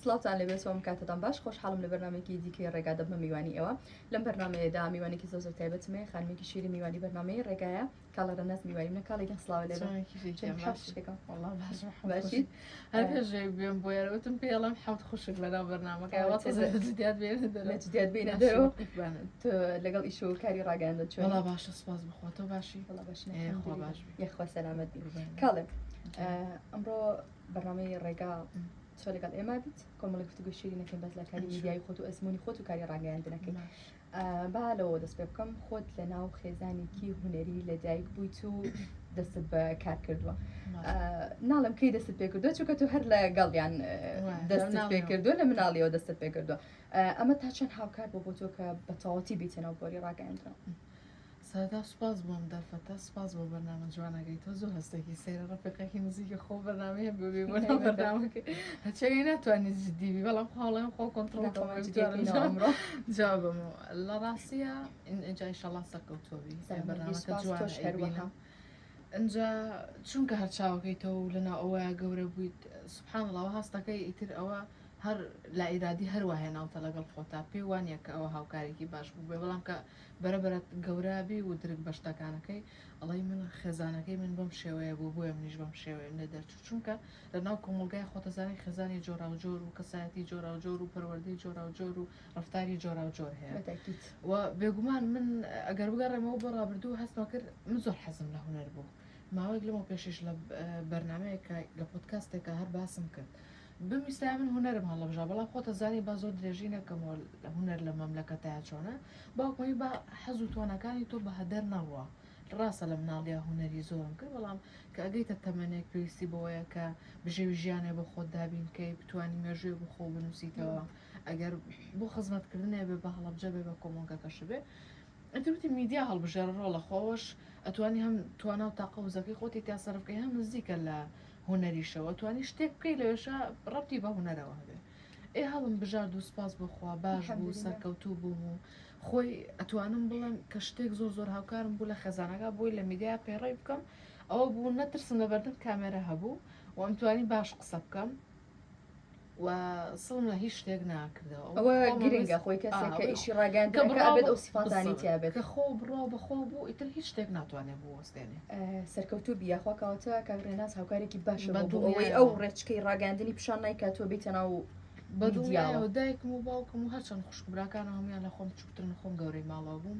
سڵاوتان لێبێت سڵاوم کاتتان باش خۆشحاڵم لە بەرنمێکی دیکەی ڕێگا دەبمە میوانی ئێوە لەم بەرنمەیەدا میوانێکی زۆ زۆر تایبەت مێ خانمێکی شیری میوانی بەرنمەی ڕێگایە کاڵەرە ناز میوانی منە کاڵی گەن سڵاوە لێ بێم بۆ یارەوتم پێڵم حوت خوشک لەدا بەرنمەکە لەگەڵ ئیش و کاری ڕاگەاندە چۆن باشە سپاس بخۆتەوە باشی باش یخوا سەلامەت کاڵێک ئەمڕۆ بەرنامەی ڕێگا تۆ لەگەڵ ئێمە بیت کۆمەڵی گفتگوی شیری نەکەین بەس لە کاری میدیایی خۆت و ئەزمموی خۆت و کاری ڕاگەیاندنەکەی با لەوە دەست پێ بکەم خۆت لە ناو خێزانێکی هوەری لە دایک بوویت و دەستت بە کار کردووە ناڵم کەی دەست پێ کردو چونکە تو هەر لە گەڵیان دەست پێ کردو لە مناڵیەوە دەست پێ کردو ئەمە تا چەند هاوکار بۆ بۆ تۆ کە بە تەواتی بیتە ناو بۆری ڕاگەیاندرا سەرەتا سوپاس بۆ ئەم دەرفەتە سوپاس بۆ بەرنامە جوانەکەی تۆ زۆر هەستێکی سەیرە ڕەفیقێکی نزیکە خۆ بەرنامەیە ببێ بۆ ناو بەرنامەکە هەچەوی ناتوانێت جدیبی بەڵام خۆڵێن خۆ کۆنتترۆڵ جوابم لە ڕاستیە ئینجای شەڵا سەرکەوتۆبی بەرنامەکە جوانە ئەجا چونکە هەر چاوەکەی تۆ و لەنا ئەوە گەورە بوویت سبحان ڵەوە هەستەکەی ئیتر ئەوە هەر لایرادی هەروە هێناوتە لەگەڵ خۆتا پێوانە کە ئەوە هاوکارێکی باش بوو بێ بەڵام کە بەرە بەرە گەورە بی و درک بە شتەکانەکەی ئەڵێی من خێزانەکەی من بەم شێوەیە بوو بۆیە منیش بەم شێوەیەم لێ دەرچوو چونکە لە ناو کۆمەڵگای خۆتەزانی خێزانی جۆراوجۆر و کەسایەتی جۆراوجۆر و پەروەردەی جۆراوجۆر و ڕفتاری جۆراوجۆر هەیە بە تاکید و بێگومان من ئەگەر بگەڕێمەوە بۆ ڕابردوو هەستمە کرد من زۆر حەزم لە هونەر بوو ماوەیەک لەمەو پێشیش لە بەرنمەیەکە لە پۆتکاستێکە هەر باسم کرد بمویستایە من هونەرم هەڵەبژا بەڵام خۆت ئەزانی با زۆر درێژی نەکەمەوە هونەر لەم مەملەکەتایە چۆنە باوکم وتی با حەز و تواناکانی تۆ بەهەدەر نەڕوا ڕاستە لە مناڵیا هونەری زۆرم کرد بەڵام کە ئەگەیتە تەمەنێک پێویستی بەوەیە کە بژێوی ژیانێ بۆ خۆت دابین کەی بتوانی مێژووێ بۆ خۆو بنووسیتەوە ئەگەر بۆ خزمەت کردنێ بێ بە هەڵەبجە بێ بە کۆمەڵگەکەش بێ ئەتر وتی میدیا هەڵبژێرە ڕۆڵە خۆش ئەتوانی هەم توانا و تاقە وزەکەی خۆتی تیا سەرف کەی هەم نزیکە لە هونەریشەوە توانی شتێک بکەی لەوێشا ڕەبتی بە هونەرەوە هەبێ ئێ هەڵم بژارد و سپاس بۆخوا باش بوو سەرکەوتوو بووم و خۆی ئەتوانم بڵێم کە شتێک زۆر زۆر هاوکارم بوو لە خەزانەکە بۆی لە میدیا پەیڕەوی بکەم ئەوە بوو نەترسم لە بەردەم کامێرە هەبوو و ئەمتوانی باش قسە بکەم و سڵم لە هیچ شتێک ناکردەوە ئەوە گرنگە خۆی کەسێک کە ئیشی ڕاگەاندن کە ئەبێت ئەو سیفاتانی تیابێت کە خۆ بڕۆ بەخۆ بوو ئیتر هیچ شتێک ناتوانێت بوەستێنێ سەرکەوتوو بی یاخوا کاوەتە کاک ڕێناز هاوکارێکی باشە بە دووەوەی ئەو ڕێچکەی ڕاگەاندنی پیشان نایکات تۆ بیتە ناو بەدڵیاوە دایکم و باوکم و هەرچەند خوشک براکانە هەمویان لە خۆم چووترن خۆم گەورەی ماڵەوە بووم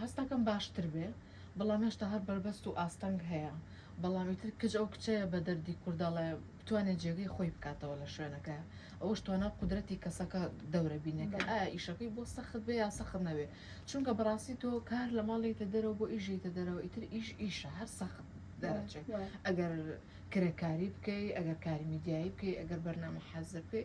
هەستەکەم باشتر بێ بەڵام هێشتا هەر بەربەست و ئاستەنگ هەیە بەڵام ئیتر کچ ئەو کچەیە بە دەردی کورد ئەڵێ بتوانێ جێگەی خۆی بکاتەوە لە شوێنەکەیا ئەوەش توانا و قودرەتی کەسەکە دەورە بینێ کە ئایا ئیشەکەی بۆ سەخت بێ یا سەخت نەبێ چونکە بەڕاستی تۆ کار لە ماڵ یەیتە دەرەوە بۆ ئیش یەیتە دەرەوە ئیتر ئیش ئیشە هەر سەخت دەرەچێ ئەگەر کرێکاری بکەی ئەگەر کاری میدیایی بکەی ئەگەر بەرنامە حازر بکەی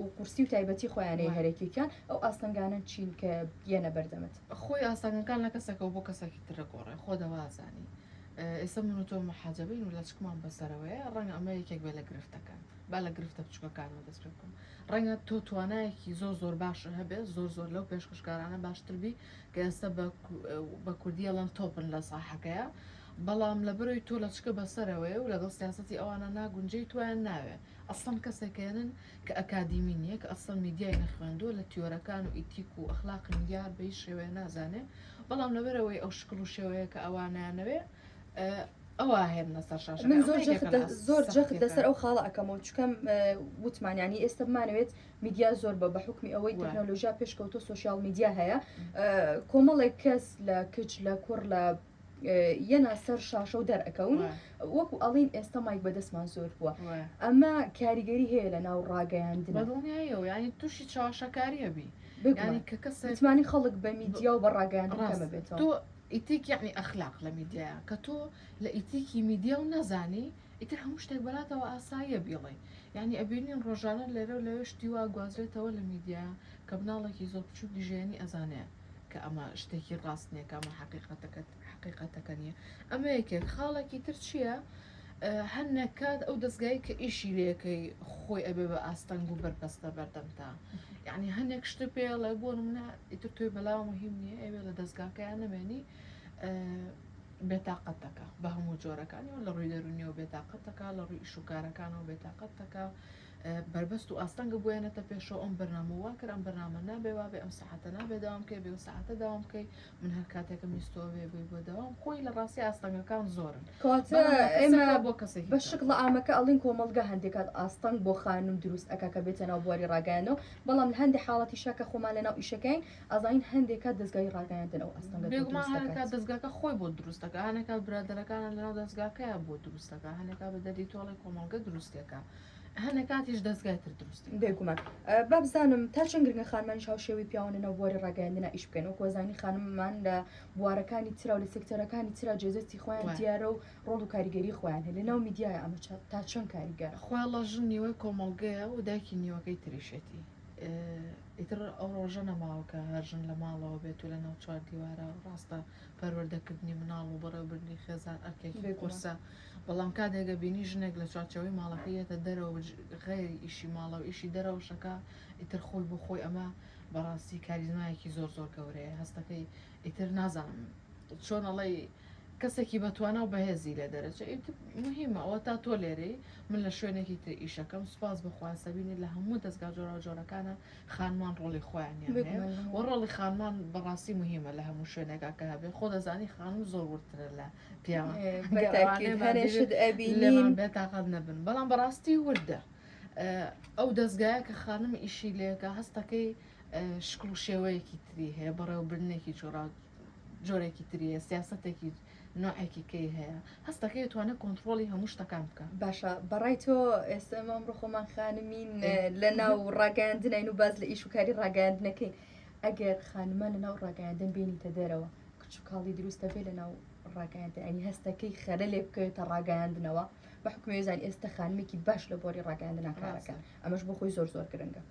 و قورسی و تایبەتی خۆیانەی هەرەکیکیان ئەو ئاستەنگانە چین کە یەنە بەردەمت خۆی ئاستەنگەکان لە کەسەکە بۆ کەسەکی ترە گۆڕێ خۆ دەوازانی ئێستا من و تۆ محاجبین و لەچکمان بەسەرەوەیە ڕەنگە ئەمە یەکێک بێ لە گرفتەکان با لە گرفتە بچووکەکانەوە دەست پێ بکەم ڕەنگە تۆ توانایەکی زۆر زۆر باش هەبێت زۆر زۆر لەو پێشکەشکارانە باشتربی کە ئێستا بە کوردیەڵەن تۆپن لە ساحەکەیە بەڵام لە بەرەوەی تۆ لەچکە بەسەرەوەی و لەگەڵ سیاستی ئەوانە ناگونجێی تویان ناوێ ئەسڵەن کەسێک هێنن کە ئەکادیمی نیە کە ئەسڵەن میدیای نەخوێندووە لە تیۆرەکان و ئیتیک و ئەخلاقی میدیا هەر بە هیچ شێوەیە نازانێ بەڵام لەبەرئەوەی ئەو شکڵ و شێوەیە کە ئەوا نایانەوێ ئەوا هێننە سەر شاشە من زۆر جەخت لە زۆر جەخت لەسەر ئەو خاڵە ئەکەمەوە چکەم وتمان ینی ئێستا بمانەوێت میدیا زۆر بە بە حکمی ئەوەی تەکنۆلۆژیا پێشکەوتۆ سوسیال میدیا هەیە کۆمەڵێک کەس لە کچ لە کوڕ لە یەنا سەر شاشە و دەرئەکەون وەکو ئەڵین ئێستا مایک بەدەستمان زۆر بووە ئەمە کاریگەری هەیە لە ناو ڕاگەیاندن دڵنیایەوە ینی تووشی چاواشەکاریە بی بگانی کە کەسمانی خەڵک بە میدیا و بە ڕاگەیاندنەکەمە بێت تۆ ئیتیک یعنی ئەخلاق لە میدیا کە تۆ لە ئیتیکی میدیا و نەزانی ئیتر هەموو شتێک بەلاتەوە ئاساییە بیڵێ یعنی ئەبینین ڕۆژانە لێرە و لەوێ شتی وا گوازرێتەوە لە میدیا کە بناڵێکی زۆر بچووکی ژێنی ئەزانێ کە ئەمە شتێکی ڕاست نییە کە ئەمە حقیقەتەکەت حقیقەتەکە نییە ئەمە یەکێک خاڵێکی تر چییە؟ هەر نەکات ئەو دەستگای کە ئیشی لەکەی خۆی ئەبێ بە ئاستەنگ و بەربەستە بەردەمتا یعنی هەنێک شتە پێڵە بۆ منە ئیتر توی بەلا مهم نییە ئەوێ لە دەستگاکەیان نەمێنی بێتاقەتەکە بە هەموو جۆرەکانی و لە ڕووی دەرونیەوە بێتاقەتەکە لە ڕووی ئیشوکارەکانەوە بێتاقەتەکە بەربەست و ئاستەنگە بۆیانەتە پێشەوە ئەم بەرنامە وا کرد ئەم بەرنامە نابێ وابێ ئەم سەعاتە نابێ داوام بکەی بێ سەعاتە داوام بکەی من هەر کاتێکم ویستەوە بێ بووی بۆ داوام خۆی لە ڕاستی ئاستەنگەکان زۆرن کەواتە ئێمە بۆ کەسێک بە شکڵ ئامەکە ئەڵین کۆمەڵگە هەندێکات ئاستەنگ بۆ خانم دروست ئەکا کە بێتە ناو بواری ڕاگەیاندنەوە بەڵام لە هەندێک حاڵەتی شاکە خۆمان لە ناو ئیشەکەین ئازاین هەندێکا دەستگای ڕاگەیاندن ئەو ئاستەنگە بێگومان هەندێکا دەستگاکە خۆی بۆ دروستەکە هەندێکا برادەرەکانە لە ناو دەستگاکەیان بۆ دروستەکە هەندێکا بە دەردی تۆڵی کۆمەڵگە دروستەکە هەنە کاتیش دەستگای تر دروست بێگومان با بزانم تا چەند گرنگە خانمانیش هاوشێوی پیاوانە بواری ڕاگەیاندنا ئیش بکەن و کۆزانی خانممان لە بوارەکانی ترا و لە سکتەرەکانی ترا جێزەستی خۆیان دیارە و ڕۆڵ و کاریگەری خۆیان هەیە لە ناو میدیایە ئەمە تا چەند کاریگەرە خواڵە ژن نیوەی کۆمەڵگەیە و دایکی نیوەکەی تریشێتی ئیتر ئەو ڕۆژە نەماوەکە هەرژن لە ماڵەوە بێت و لە ناو چوار دیوارە ڕاستە پەروەردەکردنی مناڵ و بەڕێوبردنی خێزان ئەرکێکی قورسە بەڵام کاتێک ئەبینی ژنێک لە چوارچێوەی ماڵەکەی یەتە دەرەوە و غەیری ئیشی ماڵەوە ئیشی دەرەوەش ئەکا ئیتر خۆی بۆ خۆی ئەمە بەڕاستی کاریزمایەکی زۆر زۆر گەورەیە هەستەکەی ئیتر نازانم چۆن ئەڵێی کەسێکی بەتوانا و بەهێزی لێ دەرەچێ ئیتر مهمە ئەوە تا تۆ لێرەی من لە شوێنێکی تر ئیشەکەم سوپاس بخوا سەبینی لە هەموو دەستگا جۆرا و جۆرەکانە خانمان ڕۆڵی خۆیان یان هەیە بگمەن و ڕۆڵی خانمان بەڕاستی مهمە لە هەموو شوێنێکا کە هەبێ خۆ دەزانی خانم زۆر وردترە لە پیاوە بەتاکیل هەرێشت ئەبی لێمان بێ تاقات نەبن بەڵام بەڕاستی وردە ئەو دەستگایە کە خانم ئیشی لێکە هەستەکەی شکڵ و شێوەیەکی تری هەیە بەڕێوەبرنێکی جۆرا جۆرێکی تریە سیاستێکی نوعێکی کەی هەیە هەستەکەی توانێت کۆنتترۆلی هەموو شتەکان بکە باشە بەڕای تۆ ئێستا ئەمە ڕخۆمان خانمین لە ناو ڕاگەاندنین و باز لە ئیش وکاری ڕاگەاندنەکەین ئەگەر خانمان لەناو ڕاگەیاندن بێنیتە دەرەوە کچ و کاڵی دروستە بێ لەناو ڕاگەیاندن ئەنی هەستەکەی خەرە لێ بکەوێتە ڕاگەیاندنەوە بە حکوێزان ئێستا خانمێکی باش لە بۆری ڕاگەیاندن ناکارەکە ئەمەش بۆ خۆی زۆر زۆر گرنگە.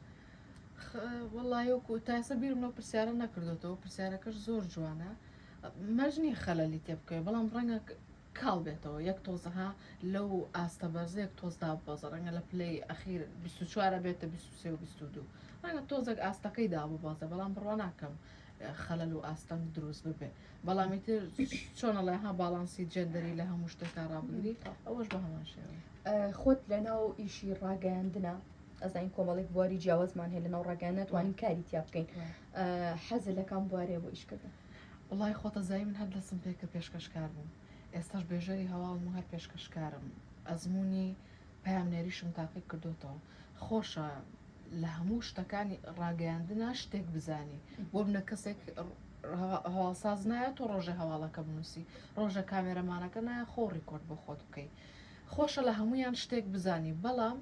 وەڵایۆکو تاسە بیرم لەو پرسیارە نەکردوەوە پرسیارەکەش زۆر جوانە مەرج نییە خەلەلی تێ بکەوێت بەڵام ڕەنگە کاڵ بێتەوە یەک تۆز ها لەو ئاستە بەرزە یەک تۆز داببەزە ڕەنگە لە پلەی ئەخیر 24 بێتە 23 و 22 ڕەنگە تۆزێک ئاستەکەی داببەزە بەڵام بڕوا ناکەم خەلەل و ئاستەنگ دروست ببێ بەڵامی تر چۆنەڵێ ها باڵانسی جێندەری لە هەموو شتێکا ڕابگری ئەوەش بە هەمان شێوە خۆت لە ناو ئیشی ڕاگەیاندنە ئەزانین کۆمەڵێک بواری جیاوازمان هەیە لە ناو ڕاگەیان ناتوانین کاری تیا بکەین حەز لەکان بوارەیە بۆ ئیشکردن وەڵای خۆتەزایی من هەر دەسم پێکرد پێشکەشکار بووم ئێستاش بێژەری هەواڵم و هەر پێشکەشکارم ئەزموونی پەیامنێریشم تاقی کردۆتەوە خۆشە لە هەموو شتەکانی ڕاگەیاندنا شتێک بزانی بۆ منە کەسێک هەواڵساز نایە تۆ ڕۆژێ هەواڵەکە بنووسی ڕۆژە کامێرەمانەکە نایە خۆ ڕیکۆرد بۆ خۆت بکەیت خۆشە لە هەمویان شتێک بزانی بەڵام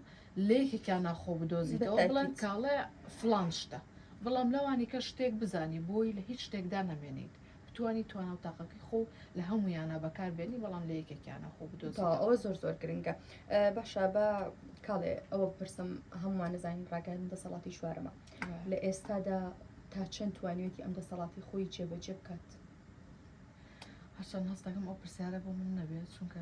لەیەکێکیان ناخۆ بدۆزیتەوە بڵێن کاڵە فڵان شتە بەڵام لەوانی کە شتێک بزانی بۆی لە هیچ شتێکدا نەمێنیت بتانی توانە و تاقەکەی خۆ لە هەمویانە بەکار بێنی بەڵام لە یەکێکیانە خۆ بدۆزیتەوە ئەوە زۆر زۆر گرنگە باشە بە کاڵێ ئەوە بپرسم هەمووان نزانین ڕاگەن دەسەڵاتی چوارەمە لە ئێستادا تا چەند توانیوێتی ئەم دەسەڵاتی خۆی جێبەجێ بکات هەرچەند هەستەکەم ئەو پرسیارە بۆ من نەبێت چونکە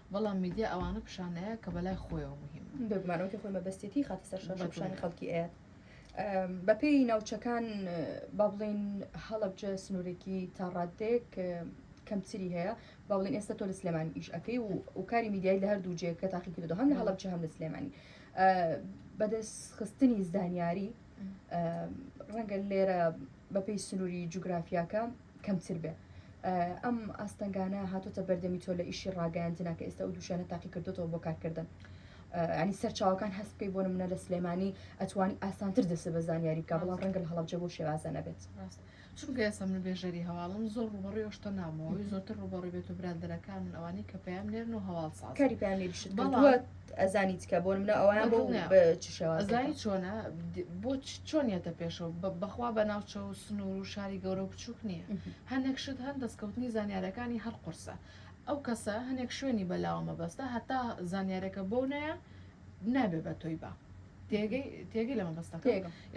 بەڵام میدیا ئەوانە پیشان نایات کە بەلای خۆیەوە موهیمە. بێگومان ئەوەی خۆی مەبەستیەتی خاتە سەر شاشە و پیشانی خەڵکی ئەیات. بەپێی ناوچەکان با بڵێین هەڵەبجە سنوورێکی تا ڕاددەیەک کەمتری هەیە، با بڵێین ئێستا تۆ لە سلێمانی ئیش ئەەکەی و و کاری میدیایی لە هەردوو جێ کە تاقی کردو هەم لە هەڵەبجە هەم لە سلێمانی بەدەست خستنی زانیاری، ڕەنگە لێرە بەپێی سنووری جوگرافیاکە کەمتر بێ ئەم ئاستەنگانە هاتوتە بەردەمی تۆ لە ئیشی ڕاگەاندنا کە ئێستا و دووشانە تاقی کردوەوە بۆ کارکردن ینی سەرچاوەکان هەست بکەی بۆ منە لە سلێمانی ئەتوانی ئاسانتر دەسە بە زانیاری بکە بڵام ڕەنگە هەڵبجە بۆ شێوازە نەبێت. چونکە ئێستا من بێژەری هەواڵم زۆر ڕووبەڕووی ئەو شتە نابم ئەوەی زۆرتر ڕووبەڕووی بێت و برادەرەکانمن ئەوانەی کە پەیام نێرن و هەواڵ سازن کاری پەیام نێریشت بەڵام- کردووە ئەزانی چکە بۆ نمونە ئەوەیان بۆ دڵنیام. بە چ شێوازێکە؟ ئەزانی چۆنە د- بۆ چ- چۆن یەتە پێشەوە بە- بەخوا بە ناوچە و سنوور و شاری گەورە و بچووک نییە ئه. هەنێک شت هەن دەستکەوتنی زانیارەکانی هەر قورسە ئەو کەسە هەنێک شوێنی بەلاوە مەبەستە هەتا زانیارەکە بۆ نایە نابێ بە تۆی با تێگەی لە مەبەستەکە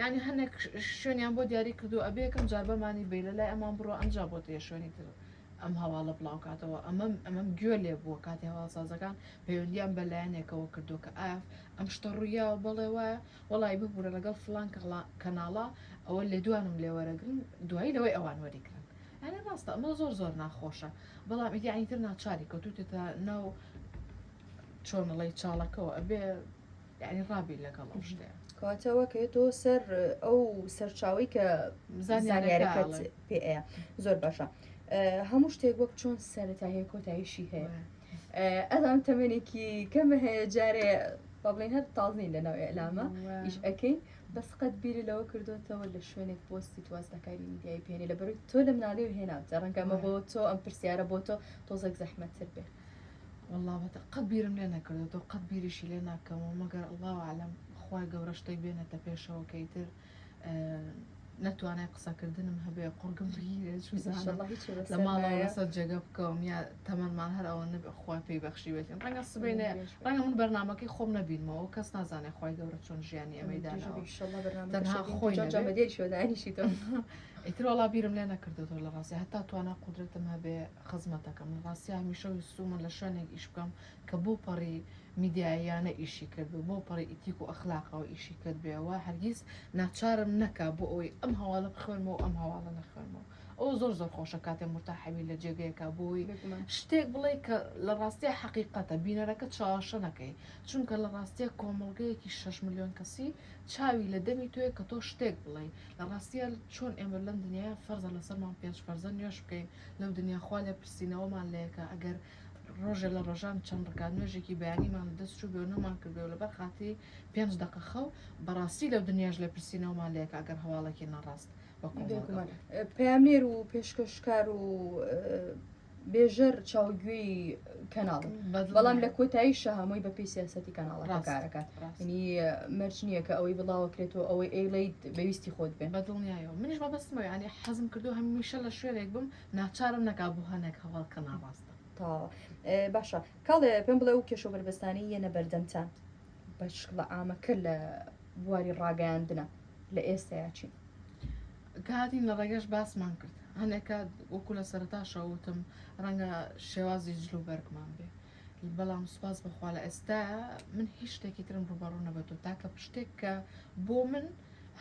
یعنی هەنێک شوێنیان بۆ دیاری کردو ئەبێ یەکەم جار بەمانی بی لە لای ئەمان بڕۆ ئەمجا بۆ تێ شوێنی تر ئەم هەواڵە بڵاوکاتەوە ئەمەم ئەمەم گوێ لێ بووە کاتی هەواڵسازەکان پەیوەندیان بە لایەنێکەوە کردو کە ئاف ئەم شتە ڕوویا و بەڵێ وایە وەڵی ببوورە لەگەڵ فلان کەناڵا ئەوە لێدوانم لێ وەرەگرن دوایی لەوەی ئەوان وەریگرن ئەێ ڕاستە ئەمە زۆر زۆر ناخۆشە بەڵام ئیدیانی تر ناچاری کەوتوتێتە ناو چۆنڵی چاڵەکەەوە ئەبێ یعنی ڕابی لەگەڵ ئەو شتێ کاتەوە کە تۆ سەر ئەو سەرچاوی کە زانیارەکە پێ زۆر باشە هەموو شتێک وەک چۆن سەرەتا هەیە کۆتایشی هەیە ئەدام تەمەێکی کەمە هەیە جارێ با بڵێن هەر تازین لەناو ئەلامە ئیش ئەەکەین بەس قەت بیری لەوە کردوتەوە لە شوێنێک پۆستی تواز لە کاری میدیای پێێنێ لە بەروی تۆ لە مناڵی و هێناوتە ڕەنگەمە بۆ تۆ ئەم پرسیارە بۆ تۆ تۆزێک زەحمەتتر بێت واللە بەتە قەت بیرم لێ نەکردۆتەوە قەت بیریشی لێ ناکەمەوە مەگەر اللە اعلم خوای گەورە شتێک بێنێتە پێشەوە کە ئیتر نەتوانای قسەکردنم هەبێ قڕگم بگیرێت شوزانم لە ماڵەوە لەسەر جێگە بکەوم یا تەمەمان هەر ئەوە نەبێ خوای پێی بەخشی بێت ڕەنگە سبینێ ڕەنگە من بەرنمەکەی خۆم نەبینمەوە کەس نازانێ خوای گەورە چۆن ژیانی ئەمەی داناوە تەنها خۆی جەمەدێری شۆدانیشی تۆ ئیتر وڵا بیرم لێ نەکردو تۆ لە ڕاستی هەتا توانا قدرەتم هەبێ خزمەتەکەم لە ڕاستیا هەمیشە ویستوومە لە شوێنێک ئیش بکەم کە بەو پەڕی میدیاییانە ئیشی کردبێ بەو پەڕی ئیتیک و ئەخلاقەوە ئیشی کردبێەوە هەرگیز ناچارم نەکا بۆ ئەوەی ئەم هەواڵە بخوێنمەوە و ئەم هەواڵە نەخوێنمەوە ئەوە زۆر زۆر خۆشە کاتێ مورتاحەبی لە جێگەیەکە بۆی بێگومان شتێک بڵێ کە لە ڕاستیە حەقیقەتە بینەرەکە چاوەشە نەکەی چونکە لە ڕاستیە کۆمەڵگەیەکی شەش ملیۆن کەسی چاوی لە دەمی تۆیە کە تۆ شتێک بڵێی لە ڕاستیە چۆن ئێمە لەم دنیایە فەرزە لەسەرمان پێنج فەرزە نوێژ بکەین لەو دنیا خوا لێپرسینەوەمان لەکا ئەگەر ڕۆژێ لە ڕۆژان چەند ڕکات نوێژێکی بەیانیمان لە دەست چوو بێ و نەمان کردێ و لەبەر خاتری پێنج دەقە خەو بەڕاستی لەو دنیاش لێپرسینەوەمان لەکا ئەگەر هەواڵێکی ناڕاست پەیامنێر و پێشکەشکار و بێژەر چاوگوێی کەناڵ بەڵام لە کۆتایی شەهامۆی بە پێی سیاستی کەناڵەکە کارەکات ینی مەرج نییە کە ئەوەی بڵاوەکرێتەوە ئەوەی ئەیڵیت بەویستی خۆت بێن بە دڵنیایەوە منیش بە بەستمەوە ینی حەزم کردو هەمیشە لە شوێنێک بم ناچارم نەکا بۆ هەنێک هەواڵ کە ناڕاستە تا باشە کاڵێ پێم بڵێ و کێشە بەربستانی یەنە بەردەمتان بە شکڵە ئامەکە لە بواری ڕاگەیاندنە لە ئێستایا چین کە هاتین لە ڕێگەش باسمان کرد هەنێک کات وەکو لە سەرتاشەوە وتم ڕەنگە شێوازی جل و بەرگمان بێ بەڵام سوپاس بەخوا لە ئێستا من هیچ شتێکی ترم ڕوبەڕوو نەبەتەوە تاکە پشتێک کە بۆ من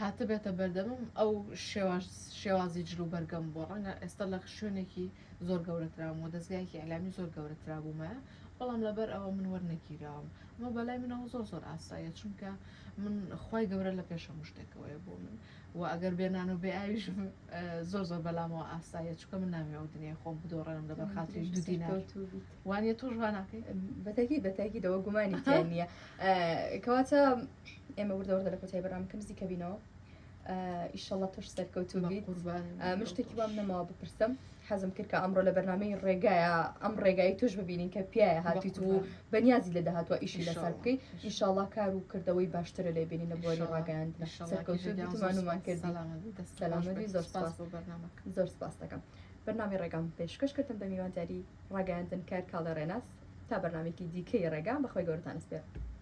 هاتبێتە بەردەمم ئەو شێوازی جل و بەرگەم بۆ ڕەنگە ئێستا لە شوێنێکی زۆر گەورەترام و دەستگایکی ئەلامی زۆر گەورەترا بوومە بەڵام لەبەر ئەوە من وەرنەگیراوم ئەمە بەلای منەوە زۆر زۆر ئاسایە چونکە من خی گەورە لە پێشەم شتێکەوەی بۆ من وە ئەگەر بێ نان و بێ ئاویشم زۆر زۆر بەلامەوە ئاسایە چکە من ناوێ ئەو دنیای خۆم بدۆڕێنم لە بەرخاتری دو دینار وانە تۆش واناکەی بەتەکی بەتەکی دەوە گومانی نییە کەواتە ئێمە وردەوردە لە کۆتای بەرام کەم زیکە بینەوە ئیشەڵە تۆش سەرکەوتوبیت مشتێکی وام نەماوە بپرسم حەزم کرد کە ئەمڕۆ لە بەرنامەی ڕێگایە ئەم ڕێگایی توش ببینین کە پیاە هاتیت و بەنیازی لە داهاتوە ئیشی لەسەر بکەیت ئیشاڵا کار و کردەوەی باشترە لێ بینین لە بۆری ڕاگەیاند سەرکەوتوانمان کردی زۆر سپاس دەکەم بەنامی ڕێگام پێشکەش کردم بە میوانداری ڕاگەاندن کار کاڵێ ڕێناس تا بەنامێکی دیکەی ڕێگا بەخوای گەورتان سپێر